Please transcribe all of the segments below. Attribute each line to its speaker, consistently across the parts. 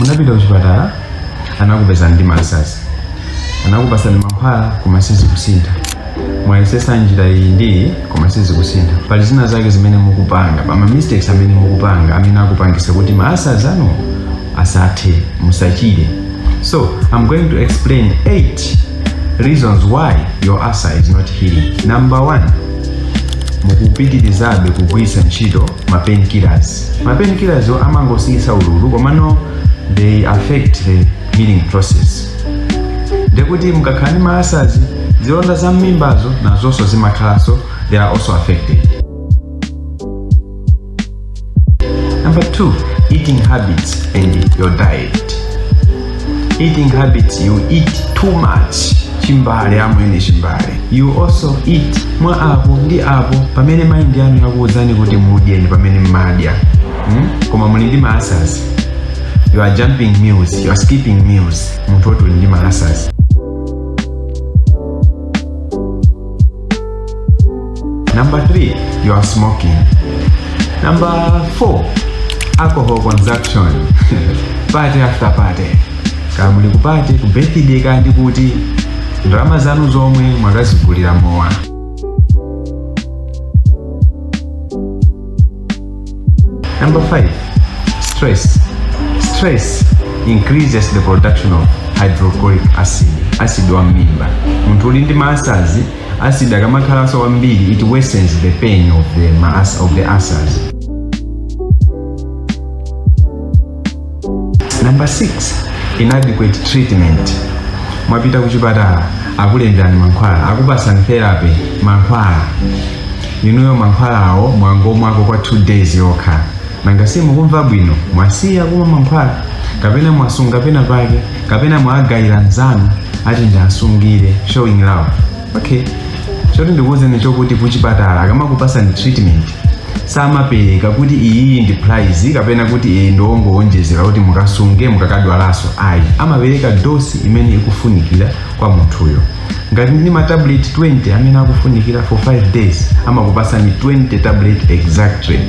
Speaker 1: munapita kuchipatala anakupezani ndi ma ulcers anakupasani mankhwala koma sizikusintha mwayesesa njira iyi ndi iyi koma sizikusintha pali zina zake zimene mukupanga pa ma mistakes amene mukupanga amene akupangisa kuti ma ulcers anu asathe musachire so i'm going to explain 8 reasons why your ulcer is not healing number 1 mukupitirizabe kugwiritsa ntchito ma painkillers ma painkillers-wo amangosiyisa ululu komano they affect the healing process ndekuti mukakhala ndi ma ulcers zilonda za mmimbazo nazonso zimakhalanso they are also affected number two eating habits and your diet eating habits you eat too much chimbale amwene chimbale you also eat mwa apo ndi apo pamene mind yanu yakuwuzani kuti mudye ndi pamene mmadya hmm? koma muli ndi ma ulcers you are jumping meals you are skipping meals munthu woti uli ndi ma ulcers Number three, you are smoking. Number four, alcohol consumption. party after party. Kaya muli ku party, ku birthday kaya ndi kuti ndalama zanu zomwe mwakazigulira mowa. Number five, stress. Stress increases the production of hydrochloric acid, acid wa mmimba. Munthu uli ndi ma ulcers, acid akamakhalanso wambiri, it worsens the pain of the ulcers. Number 6, inadequate treatment. Mwapita kuchipatala akulemberani mankhwala, akupasani therapy mankhwala. Inuyo mankhwalawo mwangomwako kwa 2 days yokha. Nanga si mukumva bwino, mwasiya kumwa mankhwala kapena mwasunga pena pake kapena mwagayira nzanu ati ndiasungire showing love. okay choti ndikuwuzeni nchokuti kuchipatala akamakupasani treatment samapereka kuti iyi ndi prize kapena kuti iyi ndi yongowonjezera kuti mukasunge mukakadwalaso ayi amapereka dosi imene ikufunikira kwa munthuyo ngati ndi matablet 20 amene akufunikira for 5 days amakupasani 20 tablet exactly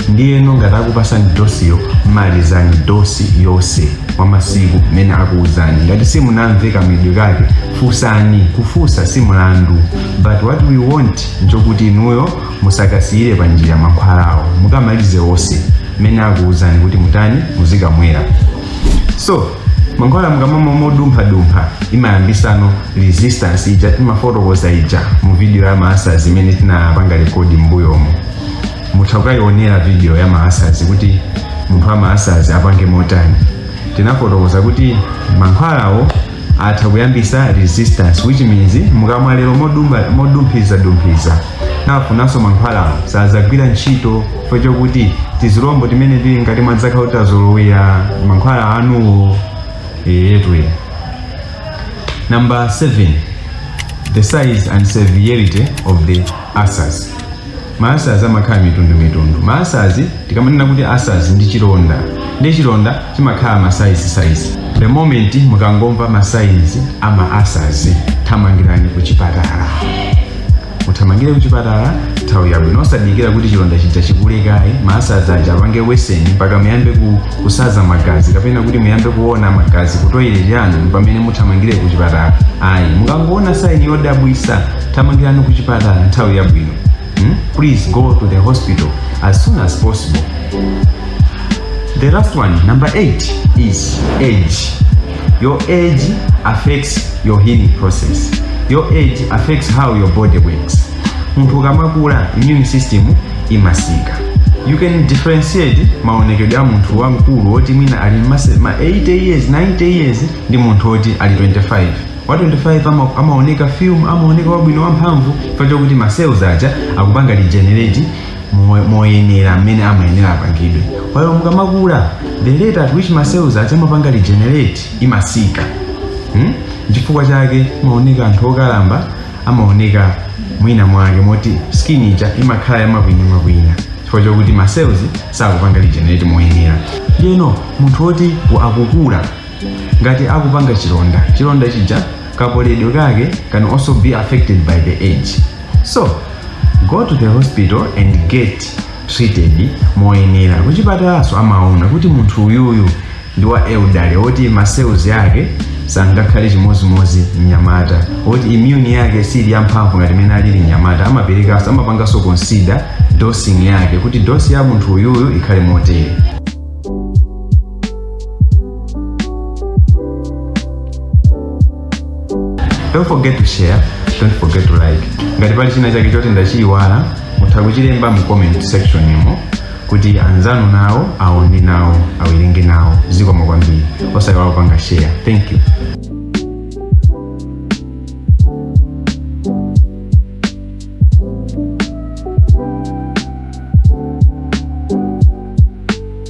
Speaker 1: ndiyeno ngati akupasani dosiyo malizani dosi yonse kwa masiku mmene akuwuzani ngati simunamve kamedwe kake fusani kufusa si mlandu but what we want nchokuti inuyo musakasiyire pa njira makhwalawo mukamalize onse mmene akuwuzani kuti mutani muzikamwera so mankhwala mukamamwa modumphadumpha imayambisano resistance ija timafotokoza ija mu video ya ma ulcers imene tinapanga rekodi m'mbuyomo mutha kukayionera video ya ma ulcers kuti munthu wa ma ulcers apange motani tinafotokoza kuti mankhwalawo atha kuyambisa resistance which means mukamwa lero modumba- modumphizadumphiza nafunanso mankhwalawo sadzagwira ntchito chifukwa chokuti tizilombo timene tili ngati mwadzakhala kuti tazolowera mankhwala anuwo eti number 7 the size and severity of the ulcers ma ulcers amakhala mitundumitundu ma ulcers tikamanena kuti ulcers ndi chilonda ndi chilonda chimakhala ma size size the moment mukangomva ma signs a ma ulcers thamangirani ku chipatala muthamangire ku chipatala nthawi yabwino osadikira kuti chilonda chija chikule kaye ma ulcers aja apange worsen mpaka muyambe ku, kusaza magazi kapena kuti muyambe kuona magazi ku toilet yanu mpamene muthamangire ku chipatala ayi mukangoona sign yodabwisa thamangirani ku chipatala nthawi yabwino hmm? please go to the hospital as soon as possible the last one number 8 is age your age affects your healing process your age affects how your body works munthu ukamakula immune system imasika you can differentiate maonekedwe a munthu wamkulu woti mwina ali mase- ma 80 years 90 years ndi munthu woti ali 25 wa 25 ama, amaoneka firm amaoneka wabwino wamphamvu chifukwa chokuti ma cells aja akupanga regenerate mo- moyenera mmene amayenera apangidwe while mukamakula the rate at which ma cells aja amapanga regenerate imasika hmm? chifukwa chake mmaona anthu okalamba amaoneka mwina mwake moti skin ija imakhala yamakwina makwina chifukwa chokuti ma cells sakupanga regenerate moyenera ndiyeno munthu woti akukula ngati akupanga chilonda chilonda chija kapoledwe kake can also be affected by the age so go to the hospital and get treated moyenera kuchipatalaso amaona kuti munthu uyuyu ndi wa elderly woti ma cells ake sangakhale chimozimozi mnyamata woti immune yake siili yamphamvu ngati mmene alili mnyamata amaperekaso amapangaso consider dosing yake kuti dosi ya munthu uyuyu ikhale motere don't forget to share don't forget to like ngati pali china chake choti ndachiyiwala mutha kuchilemba mu comment section imo kuti anzanu nawo aone nawo awerenge nawo zikomo kwambiri osayiwala kupanga share thank you